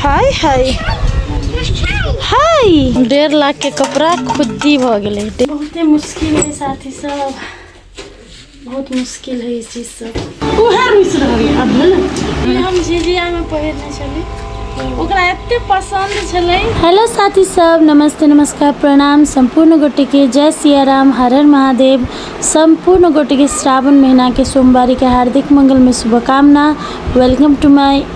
हाय हाय हाय डेढ़ लाख के कपड़ा खुद्दी भ गेलै बहुते मुश्किल है साथी सब बहुत मुश्किल है ई चीज सब उहे रुस रहल है अब भेल ई हम झिझिया में पहिरने छली ओकरा एते पसंद छलै हेलो साथी सब नमस्ते नमस्कार प्रणाम सम्पूर्ण गोटे के जय सिया राम हर हर महादेव सम्पूर्ण गोटे के श्रावण महीना के सोमवारी के हार्दिक मंगल में शुभकामना वेलकम टू माय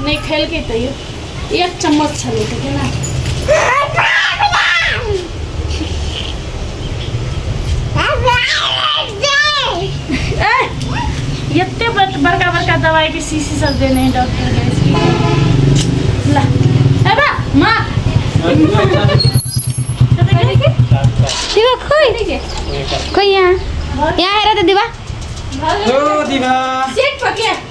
नहि खेलकै तैयो एक चम्मच छलै तऽ केना एते बड़का बड़का दवाई के शीशी सब देने है डॉक्टर यहाँ यहाँ हेरा तो दिवा दिवा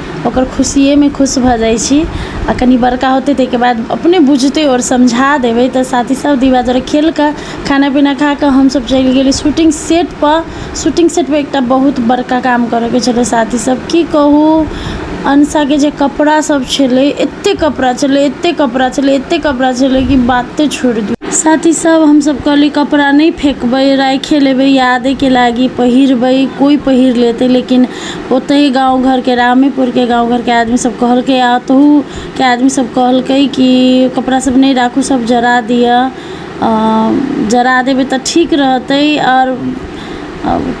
ओकर खुशिएमे खुश भऽ जाइ छी आओर कनि बड़का होतै ताहिके बाद अपने बुझतै आओर समझा देबै तऽ साथीसब दीवारदर खेलिकऽ खाना पीना खाकऽ हमसब चलि गेली शूटिङ्ग सेटपर शूटिङ्ग सेटपर एकटा बहुत बड़का काम करैके छलै साथीसब कि कहू अनसाके जे कपड़ासब छलै एतेक कपड़ा छलै एतेक कपड़ा छलै एतेक कपड़ा छलै कि बाते छोड़ि दिऔ साथीसब हमसब कहली कपड़ा नहि फेकबै राखिए लेबै यादेके लागी पहिरबै कोइ पहिर लेतै लेकिन ओतहि गाँव घरके रामेपुरके गाँव घरके आदमी सब कहलकै आ ओतहुके आदमी सब कहलकै कि कपड़ा सब नहि राखू सब जरा दिअ जरा देबै तऽ ठीक रहतै आओर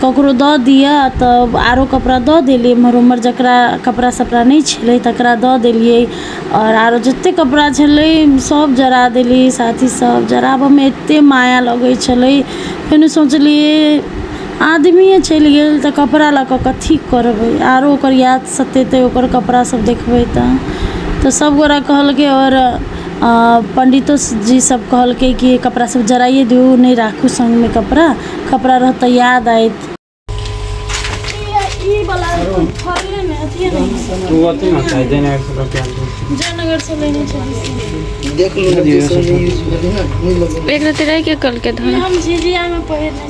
ककरो दऽ दिअ तऽ आरो कपड़ा दऽ देलियै एमहर ओमहर जकरा कपड़ा सपड़ा नहि छलै तकरा दऽ देलियै आओर आरो जते कपड़ा छलै सब जरा देलियै साथी सब जराबऽमे एते माया लगै छलै फेनु सोचलियै आदमिये चलि गेल तऽ कपड़ा लऽ कऽ कथी करबै आरो ओकर याद सतेतै ओकर कपड़ा सब देखबै तऽ तऽ सब गोरा कहलकै आओर पण्डितो जी सब कहलकै की कपड़ा सब जराइये दियौ नहि राखू सङ्गमे कपड़ा कपड़ा रहत तऽ याद आयत ई वाला फड़ले मे अथिये नहि तू अथी मत खाइ जय नगर से लऽ के आयल छी। जयनगर से लेने छलियै देख लो जे सब यूज भेलै ना घूम लो एक रति रहि के कल के ई धन हम झिझिया मे पहिरने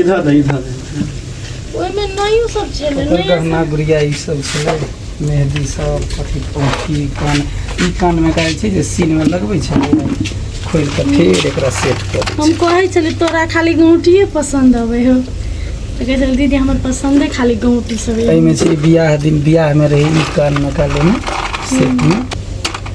इधर दे इधर दे ओहिमे नयो सब छलै ओकर नया गहना गुड़िया ई सब छलै मेहदी सब अथी पोठी कान ई कानमे कहै छै जे सीनमे लगबै छै खोलि कऽ फेर एकरा सेट कऽ दै हम कहै छलियै तोरा खाली गौटिए पसन्द अबै हो तऽ कहै छलियै दीदी हमर पसन्दे खाली गौटी सब छै। अइ एहिमे छै बियाह दिन बियाहमे रहै ई कानमे कालेमे सेटमे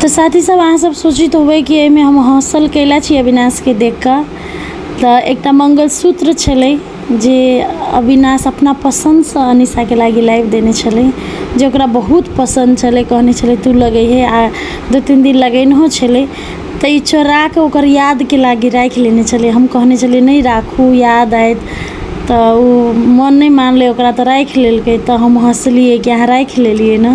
तो साथी सब अहाँ सब सोचित होबै कि एहिमे हम हौसल कैला छी अविनाश के देख कऽ तऽ एकटा मंगलसूत्र छलै जे अविनाश अपना पसंद सँ अनिशा के लागी लाइव देने छलै जे ओकरा बहुत पसंद छलै कहने छलै तू लगैहे आ दू तीन दिन लगेनहो छलै तऽ ई चोराके ओकर यादके लागि राखि लेने छलै हम कहने छलियै नहि राखू याद आयत तऽ ओ मन नहि मानलै ओकरा तऽ राखि लेलकै तऽ हम हँसलियै कि अहाँ राखि लेलियै ने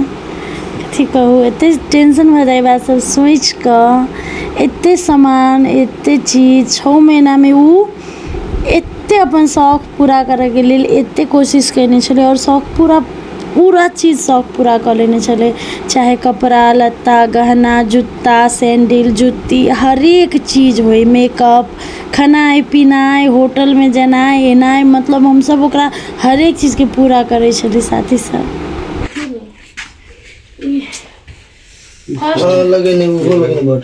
कथी कहु एते टेंशन भऽ जाइ यऽ ई बात सब सोचिकऽ एते सामान एते चीज छओ महीनामे ओ एते अपन शौक पूरा करैके लेल एते कोशिश कयने छलै आओर शौक पूरा पूरा चीज शौक पूरा कऽ लेने छलै चाहे कपड़ा लत्ता गहना जूता सैंडिल जूती हरेक चीज होइ मेकअप खेनाइ पीनाइ होटलमे जेनाइ एनाइ मतलब हमसब ओकरा हरेक चीजके पूरा करै छलियै साथी सब लगेने लगेने बट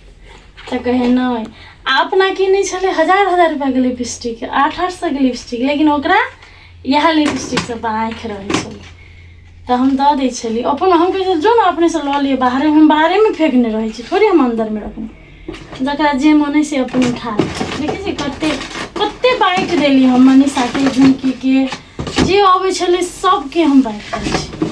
तऽ कहे नहि आ अपना की नहि छलै हजार हजार रुपैआके लिपस्टिक आठ आठ सएके लिपस्टिक लेकिन ओकरा इएह लिपस्टिकसँ तऽ आँखि रहै छलै तऽ हम दऽ दै छलियै अपन हम कहै जो ने अपनेसँ लऽ लिअ बाहरे हम बाहरेमे फेकने रहै छी थोड़े हम अन्दरमे रखने जकरा जे मन अइ से अपन उठा लै छी देखै छी कते कते बाँटि देली हम मनीषाके झुमकीके जे अबै छलै सभके हम बाँटि दै छी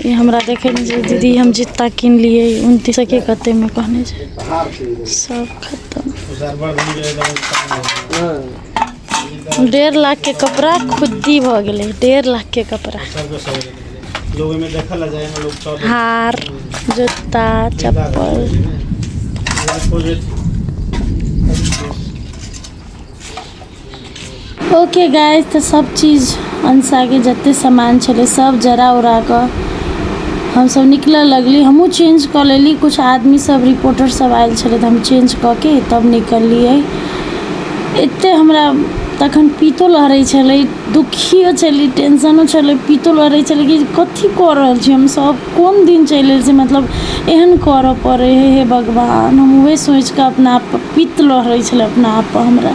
ई हमरा देखै नहि छै दीदी हम जूता किनलिए उनतिस सओके कतेकमे कहने छै सब खतम डेढ़ लाखके कपड़ा खुद्दी भऽ गेलै डेढ़ लाखके कपड़ा हार जूता चप्पल ओके गाइस तऽ सब चीज अंशाके जते सामान छलै सब जरा उरा कऽ हमसब निकलऽ लगली हमहूँ चेंज कऽ लेली कुछ आदमी सब रिपोर्टर सब आयल छलै तऽ हम चेंज कऽ के तब निकललियै एते हमरा तखन पीतो लहरै छलै दुखियो छलै टेंशनो छलै पीतो लहरै छलै कि कथी कऽ रहल छी हमसब कोन दिन चलि एल छी मतलब एहन करऽ पड़ै हे हे भगवान हम उहे सोचि कऽ अपना आप पित्त लहरै छलै अपना आप हमरा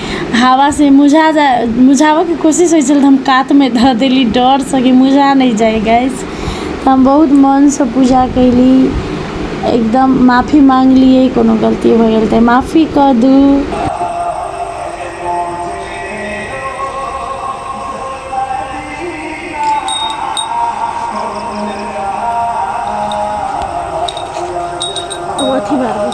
हवासँ मुझा जाइ मुझाबैके कोशिश होइ छलै तऽ हम कातमे धऽ देली डरसँ कि मुझा नहि जाइ गैस तऽ हम बहुत मोनसँ पूजा कएली एकदम माफी माँगलिए कोनो गलती भऽ गेल तऽ माफी कऽ दू ओ अथी भऽ गेल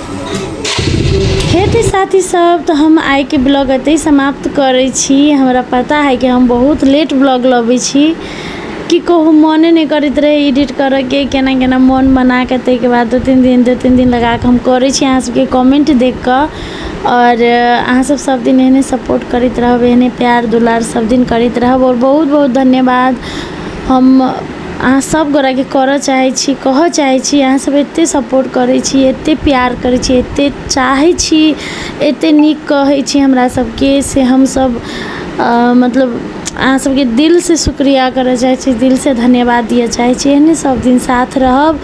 हेतै साथी सब तऽ हम आइके ब्लॉग एतै समाप्त करै छी हमरा पता है कि हम बहुत लेट ब्लॉग लबै छी की कहू मोने नहि करैत रहै एडिट करैके केना केना मोन बनाके ताहिके बाद दू तीन दिन दू तीन दिन लगाके हम करै छी अहाँ सबके कमेन्ट देखिके आओर अहाँ सब सब दिन एहने सपोर्ट करैत रहब एहने प्यार दुलार सब दिन करैत रहब आओर बहुत बहुत धन्यवाद हम अहाँ सब गोरा के करऽ चाहै छी कहऽ चाहै छी अहाँ सब एते सपोर्ट करै छी एते प्यार करै छी एते चाहै छी एते नीक कहै छी हमरा सबके से हम सब मतलब अहाँ सबके दिल से शुक्रिया करऽ चाहै छी दिल से धन्यवाद दिअ चाहै छी एहने सब दिन साथ रहब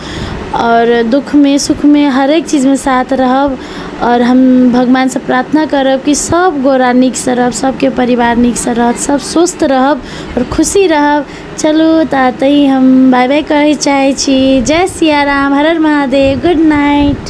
आओर दुःख मे सुख मे हरेक चीज मे साथ रहब आओर हम भगवान से प्रार्थना करब कि सब गोरा नीक से रहब सबके परिवार नीक से रहत सब स्वस्थ रहब आओर खुशी रहब चलू तऽ एतहि हम बाय बाय कहै चाहै छी जय सिया राम हर हर महादेव गुड नाइट